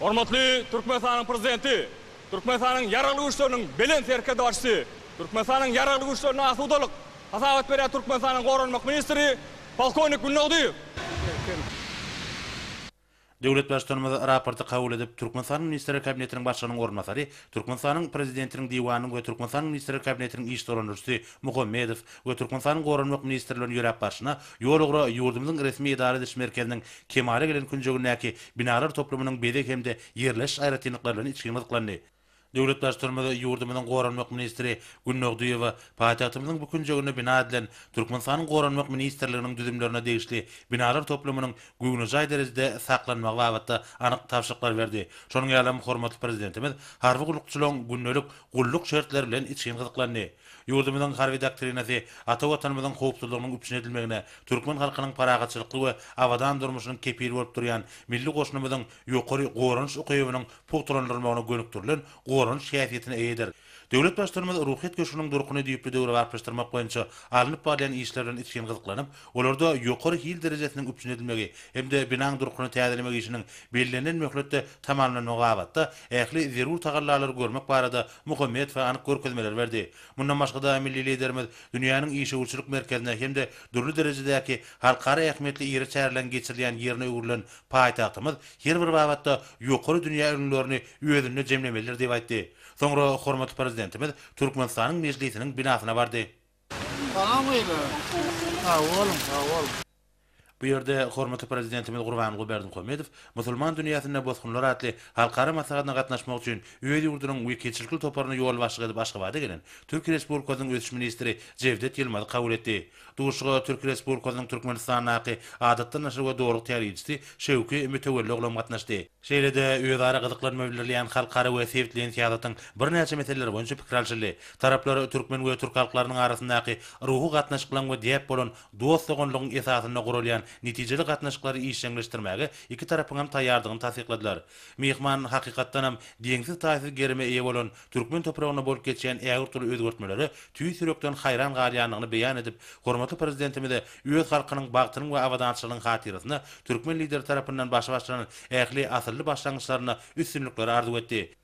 Hormatly Türkmenistanyň Prezidenti Türkmenistanyň Ýaragly Güýçleriniň Belent Serkerdebaşysy, Türkmenistanyň Ýaragly Güýçlerini asudalyk hasabat berýän Türkmenistanyň Goranmak ministri polkownik Gülnagdyýew. Döwlet Baştutanymyz raporty kabul edip, Türkmenistanyň Ministrler Kabinetiniň Başlygynyň orunbasary, Türkmenistanyň Prezidentiniň Diwanynyň we Türkmenistanyň Ministrler Kabinetiniň iş dolandyryjysy Muhammedow we Türkmenistanyň Goranmak ministri bilen ýöräp barşyna, ýol-ugra ýurdumyzyň resmi edara ediş merkeziniň kemala gelen künjegindäki binalar toplumynyň bezeg hem-de ýerleşiş aýratynlyklary bilen içgin gyzyklandy. Döwlet Baştutanymyz ýurdumyzyň Goranmak ministri Günnogdyýewa paýtagtymyzyň bu künjeginde bina edilen Türkmenistanyň Goranmak ministrliginiň düzümlerine degişli binalar toplumynyň göwnejaý derejede saklanmagy babatda anyk tabşyryklar berdi. Şonuň ýalam, hormatly Prezidentimiz harby gullukçylaryň gündelik gulluk şertleri bilen içgin gyzyklandy. Ýurdumyzyň Harby doktrinasy ata Watanymyzyň howpsuzlygynyň üpjün edilmegine, türkmen halkynyň parahatçylykly we abadan durmuşynyň kepili bolup durýan milli goşunymyzyň ýokary goranyş ukybynyň pugtalandyrylmagyna gönükdirilen goranyş häsiýetine eýedir. Döwlet Baştutanymyz Ruhyýet köşgüniň durkuny düýpli döwrebaplaşdyrmak boýunça alnyp barylýan işler bilen içgin gyzyklanyp, olarda ýokary hil derejesiniň üpjün edilmegi hem-de binaň durkuny täzelemek işiniň bellenilen möhletde tamamlanmagy babatda ähli zerur tagallalary görmek barada Muhammedowa anyk görkezmeleri berdi. Mundan başga-da, milli Liderimiz dünýäniň işewürçilik merkezine hem-de dürli derejedäki halkara ähmiýetli iri çäreleriň geçirilýän ýerine öwrülen paýtagtymyz her bir babatda ýokary dünýä ülňülerini özünde jemlemelidir diýip aýtdy. Soňra hormatly Prezidentimiz Türkmenistanyň Mejlisiniň binasyna bardy. Salam gyzlar. Sag boluň, sag boluň. Bu ýerde hormatly Prezidentimiz Gurbanguly Berdimuhamedow Musulman dünýäsinde bosgunlar atly halkara maslahatyna gatnaşmak üçin öz ýurdunyň wekilçilikli toparyny ýolbaşçylyk edip Aşgabada gelen Türkiýe Respublikasynyň Ösüş ministri Jewdet Ýylmazy kabul etdi. Duşuşyga Türkiýe Respublikasynyň Türkmenistandaky Adatdan daşary we Dogrulyk tälimçisi Şewki Mütewelli oglam gatnaşdy. Şeýle-de, özara gyzyklanma bildirilýän halkara we sebitleýin syýasatyň birnäçe meseleleri boýunça pikir alşyldy. Taraplar türkmen we türk halklarynyň arasyndaky ruhy gatnaşyklaryň we däp bolan dost-doganlygyň esasynda guralýan netijeli gatnaşyklary işjeňleşdirmäge iki tarapyňam taýýardygyny tassykladylar. Myhman, hakykatdanam, deňsiz-taýsyz gerime eýe bolan türkmen topragynda bolup geçýän ägirt uly özgertmelere tüýs ýürekden haýran galýandygyny beýan edip, hormatly Prezidentimize öz halkynyň bagtynyň we abadançylygynyň hatyrasyna türkmen Lideri tarapyndan başy başlanan ähli asylly başlangyçlarynda üstünlikleri arzuw etdi.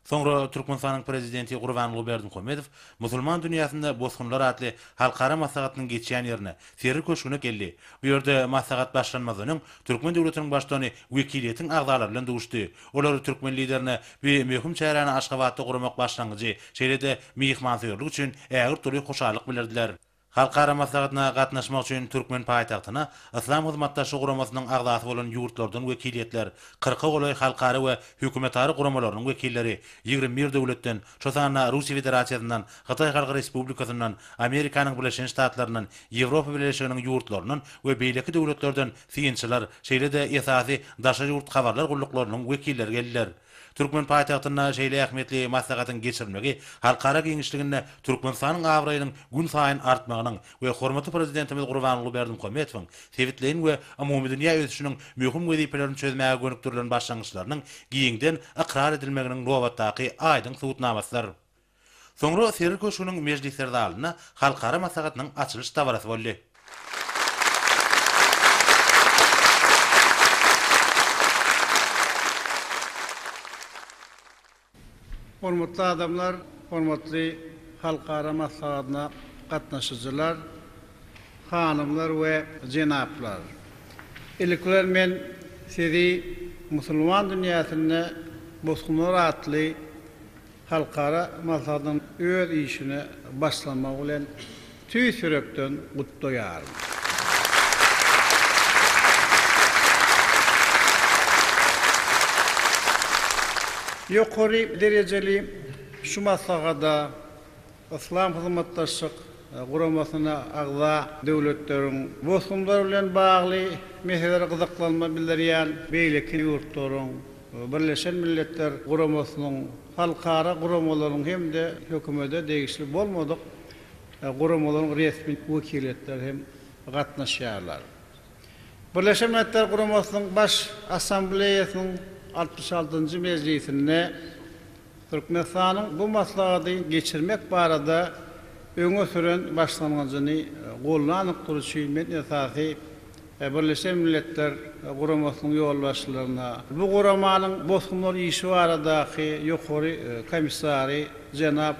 Soňra Türkmenistanyň Prezidenti Gurbanguly Berdimuhamedow Musulman dünýäsinde bosgunlar atly halkara maslahatynyň geçýän ýerine, Serri köşgüne geldi. Bu ýerde maslahat başlanmazdan öň, türkmen döwletiniň Baştutany wekiliýetiň agzalary bilen duşdy Olar türkmen Liderine bu möhüm çäräni Aşgabatda guramak başlangyjy, şeýle-de myhmansöýerlik üçin ägirt doly hoşallyk bildirdiler. Halkara maslahatyna gatnaşmak üçin türkmen paýtagtyna Yslam Hyzmatdaşlyk Guramasynyň agzasy bolan ýurtlardan wekiliýetler, kyrka golaý halkara we hökümetara guramalarynyň wekilleri, ýigrimi bir döwletden, şo sanda Russiýa Federasiýasyndan, Hytaý Halk Respublikasyndan, Amerikanyň Birleşen Ştatlaryndan, Ýewropa Bileleşiginiň ýurtlaryndan we beýleki döwletlerden Synçylar, şeýle-de esasy daşary ýurt habarlar gulluklarynyň wekilleri geldiler. Türkmen paýtagtynda şeýle ähmiýetli maslahatyň geçirilmegi halkara giňişliginde Türkmenistanyň abraýynyň gün saýyn artmagynyň we hormatly Prezidentimiz Gurbanguly Berdimuhamedowyň sebitleýin we umumydünýä ösüşiniň möhüm wezipelerini çözmäge gönükdirilen başlangyçlarynyň giňden ykrar edilmeginiň nobatdaky aýdyň subutnamasydyr. Soňra Seril köşgüniň mejlisler zalynda halkara maslahatynyň açylyş dabarasy boldy. Hormatly adamlar, hormatly halkara maslahatyna gatnaşyjylar, hanymlar we jenaplar! Ilki bilen men sizi musulman dünýäsinde Bosgunlar atly Halkara maslahatyň öz işine başlamagy bilen tüýs ýürekden gutlaýaryn. Ýokary derejeli şu maslahata Yslam Hyzmatdaşlyk Guramasyna agza döwletleriň bosgunlar bilen bagly meselelere gyzyklanma bildirýän beýleki ýurtlaryň, Birleşen Milletler Guramasynyň, halkara guramalaryň hem-de hökümete degişli bolmadyk guramalaryň resmi wekiliýetleri hem gatnaşýarlar. Birleşen Milletler Guramasynyň Baş Assambleýasynyň altmyş altynjy mejlisinde, Türkmenistanyň bu maslahady geçirmek barada öňe süren başlangyjyny goldandyk duruşy men esasy Birleşen Milletler Guramasynyň ýolbaşçylaryna, bu guramanyň bosgunlar işi baradaky Ýokary komissary jenap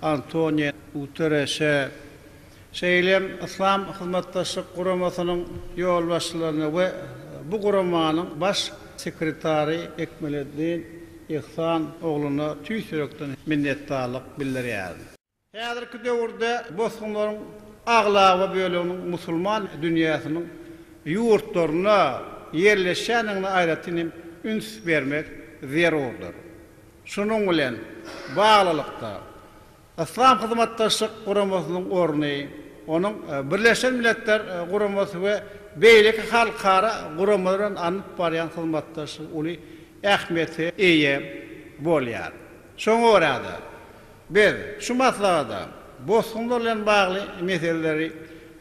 Antonio Guterreşe, Şeýle hem Yslam Hyzmatdaşlyk Guramasynyň ýolbaşçylaryna we bu guramanyň Baş sekretary Ekmeleddin Ihsan ogluna tüýs ýürekden minnetdarlyk bildirýärin. Häzirki döwürde bosgunlaryň aglaba böleginiň musulman dünýäsiniň ýurtlarynda ýerleşýändigine aýratyn hem üns bermek zerurdyr. Şunuň bilen baglylykda, Yslam Hyzmatdaşlyk Guramasynyň orny, onuň Birleşen Milletler Guramasy we beýleki halkara guramalar bilen alnyp barýan hyzmatdaşlygy uly ähmiýete eýe bolýar. Şoňa görä-de, biz şu maslahata bosgunlar bilen bagly meseleleri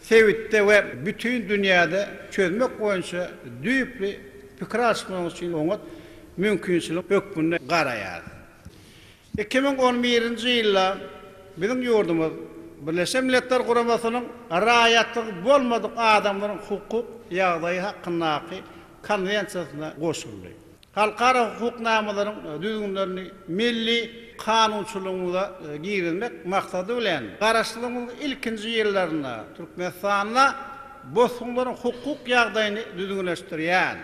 sebitde we bütin dünýäde çözmek boýunça düýpli pikir alyşmagyň üçin oňat mümkinçilik hökmünde garaýarys. Iki müň on birinji ýylda biziň ýurdumyz Birleşen Milletler Guramasynyň Raýatlygy bolmadyk adamlaryň hukuk ýagdaýy hakyndaky Konwensiýasyna goşuldy. Halkara hukuk namalaryň düzgünlerini milli kanunçylygymyza girizmek maksady bilen, Garaşsyzlygymyzyň ilkinji ýyllarynda Türkmenistanda bosgunlaryň hukuk ýagdaýyny düzgünleşdirýän,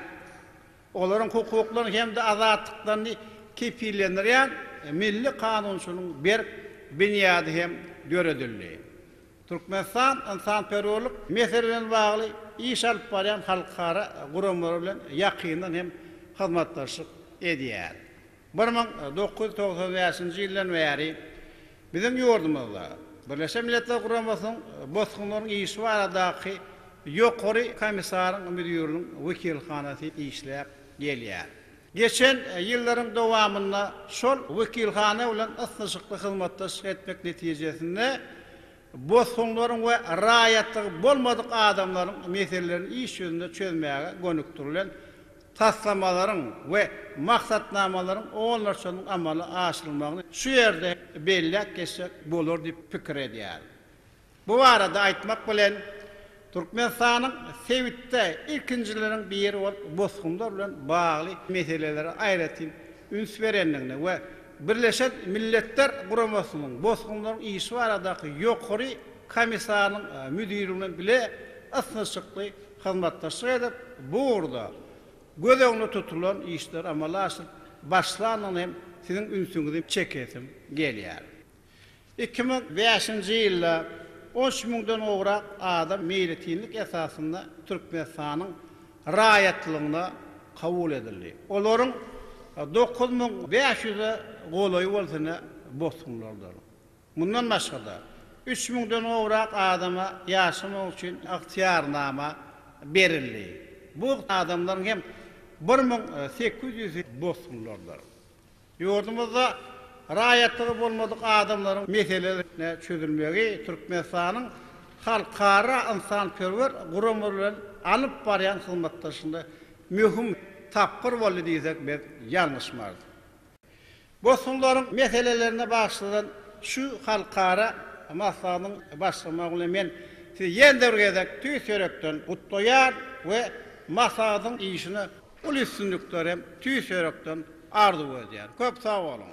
olaryň hukuklaryny hem-de azatlyklaryny kepillendirýän milli kanunçylygyň berk binýady hem döredildi. Türkmenistan ynsanperwerlik meseleleri bilen bagly iş alyp barýan halkara guramalar bilen ýakyndan hem hyzmatdaşlyk edýär. Bir müň dokuz ýüz togsan bäşinji ýyldan bäri biziň ýurdumyzda Birleşen Milletler Guramasynyň bosgunlaryň işi baradaky Ýokary Komissaryň Müdiriniň wekilhanasy işläp gelýär. Geçen ýyllaryň dowamynda şol wekilhana bilen ysnyşykly hyzmatdaşlyk etmek netijesinde bosgunlaryň we raýatlygy bolmadyk adamlaryň meselelerini iş ýüzünde çözmäge gönükdirilen taslamalaryň we maksatnamalaryň onlarçasynyň amala aşyrylmagyny şu ýerde belläp geçsek bolar diýip pikir edýärin. Bu barada aýtmak bilen, Türkmenistanyň sebitde ilkinjileriň biri bolup bosgunlar bilen bagly meselelere aýratyn üns berendigini we Birleşen Milletler Guramasynyň Bosgunlaryň işi baradaky Ýokary Komissarynyň müdiri bilen bile ysnyşykly hyzmatdaşlyk edip, bu ugurda göz öňünde tutulan işleri amala aşyryp başlandygyna hem siziň ünsüňizi çekesim gelýär. Iki müň bäşinji ýylda on üç müňden gowrak adam meýletinlik esasynda Türkmenistanyň raýatlygyna kabul edildi. Olaryň dokuz müň bäş ýüze golaýy bolsa ine bosgunlardyr. Mundan başga-da, üç müňden gowrak adama ýaşamak üçin ygtyýarnama berildi. Bu adamlaryň hem bir müň sekiz ýüzi bosgunlardyr. Ýurdumyzda raýatlygy bolmadyk adamlaryň meseleleriniň çözülmegi Türkmenistanyň halkara ynsanperwer gurama bilen alyp barýan hyzmatdaşlygynda möhüm tapgyr boldy diýsek biz ýalňyşmarys. Bosgunlaryň meselelerine bagyşlanan şu halkara maslahatynyň başlanmagy bilen men Sizi ýene-de bir gezek tüýs ýürekden gutlaýan we maslahatyň işine uly üstünlikler hem tüýs ýürekden arzuw edýän. Köp sag boluň!